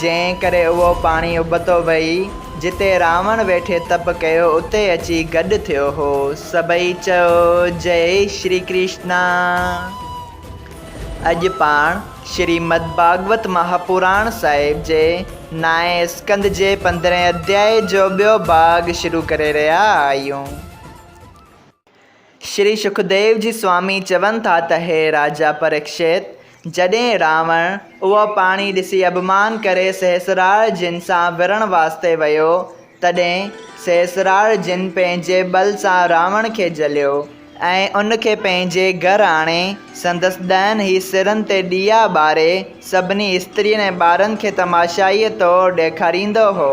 جنهن ڪري اهو پاڻي ابتو وهي، جتي راوڻ ويٺي تپ ڪيو، اتي اچي گڏ ٿيو هو. سڀئي چيو، جئي شري ڪرشنا! اڄ پاڻ شريمد ڀاڳوت مهاپراڻ صاحب جي نائين اسڪنڌ جي پندرهين اڌيائي جو ٻيو ڀاڳ شروع ڪري رهيا آهيون. شري شڪديو جي سوامي چون ٿا ته هي راجا پريڪشيت! جڏهن راوڻ اهو پاڻي ڏسي اڀمان ڪري سهسراڙ جن سان وڙهڻ واسطي ويو، تڏهن سهسراڙ جن پنهنجي ٻل سان راوڻ کي جهليو ۽ ان کي پنهنجي گهر آڻي سندس ڏهن هي سرن تي ڏيئا ٻاري سڀني استرين ۽ ٻارن کي تماشائيء طور ڏيکاريندو هو.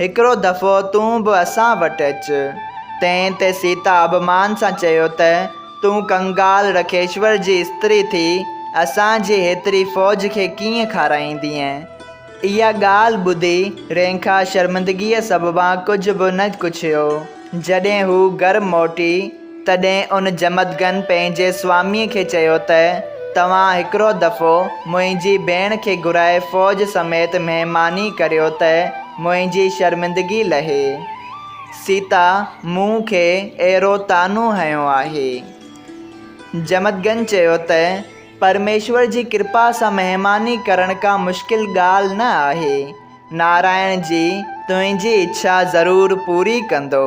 هڪڙو دفعو تون به اسان وٽ اچ. تنهن تي سيتا اڀمان سان چيو ته، تون ڪنگال رکيشور جي استري ٿي، اسان جي هيتري فوج کي ڪيئن کارائيندينء؟ اها ڳالهه ٻڌي رينکا شرمندگيء سببان ڪجهه به نه ڪڇيو. جڏهن هو گهر موٽي. تڏهن ان جمدگن پنهنجي سواميء کي چيو ته، توهان هڪڙو دفعو منهنجي ڀيڻ کي گهرائي فوج سميت مهماني ڪريو ته منهنجي شرمندگي لهي. سيتا مون کي اهڙو طعنو هنيو آهي. جمدگن چيو ته، پرميشور جي ڪرپا سان مهماني ڪرڻ ڪا مشڪل ڳالهه نه آهي. نارائڻ جي تنهنجي اڇا ضرور پوري ڪندو.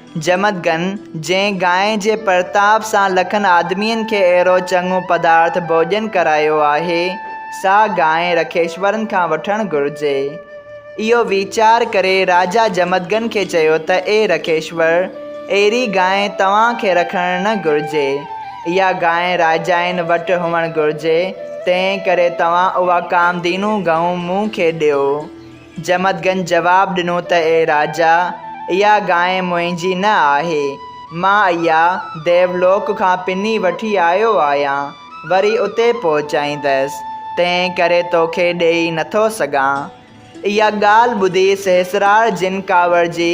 جمدگن، جنهن گانء جي پرتاپ سان لکن آدمين کي اهڙو چڱو پدارٿ ڀوڄن ڪرايو آهي، سا گانء رکيشورن کان وٺڻ گهرجي. اهو ويچار ڪري راجا جمدگن کي چيو ته اي رکيشور، اهڙي گانء توهان کي رکڻ نه گهرجي. اها گانء راجائن وٽ هئڻ گهرجي، تنهن ڪري توهان اها ڪامدينون گهنون مون کي ڏيو. جمدگن جواب ڏنو ته اي راجا، اها گانء منهنجي نه آهي. مان اها ديولوڪ کان پني وٺي آيو آهيان، وري اتي پهچائيندس، تنهن ڪري توکي ڏيئي نٿو سگهان. اها ڳالهه ٻڌي سهسرار جن ڪاوڙجي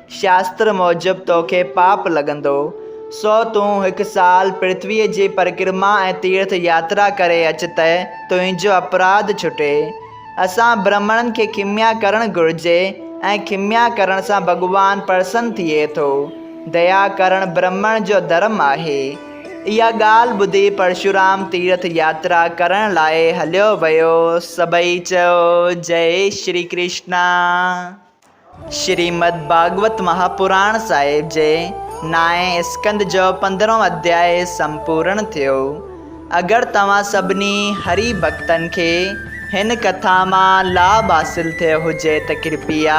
شاستر موجب توکي پاپ لڳندو، سو تون هڪ سال پرٿويء جي پرڪرما ۽ تيرٿ ياترا ڪري اچ ته تنهنجو اپراڌ ڇٽي. اسان برهمڻن کي کميا ڪرڻ گهرجي ۽ کميا ڪرڻ سان ڀڳوان پرسن ٿئي ٿو. ديا ڪرڻ برهمڻ جو ڌرم آهي. اها ڳالهه ٻڌي پرشورام تيرٿ ياترا ڪرڻ لاء هليو ويو. سڀئي چيو، جئي شري ڪرشنا! شريمد ڀاڳوت مهاپراڻ صاحب جي نائين اسڪند جو پندرهون اڌياء سمپورڻ ٿيو. اگر توهان سڀني هري ڀڳتن کي هن ڪٿا مان لاڀ حاصل ٿيو هجي ته ڪرپيا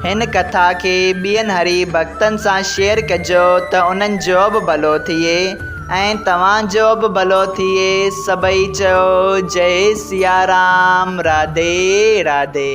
هن ڪٿا کي ٻين هري ڀڳتن سان شيئر ڪجو ته انهن جو به ڀلو ٿئي ۽ توهان جو به ڀلو ٿئي سڀئي چئو جئي سيارام راڌي راڌي.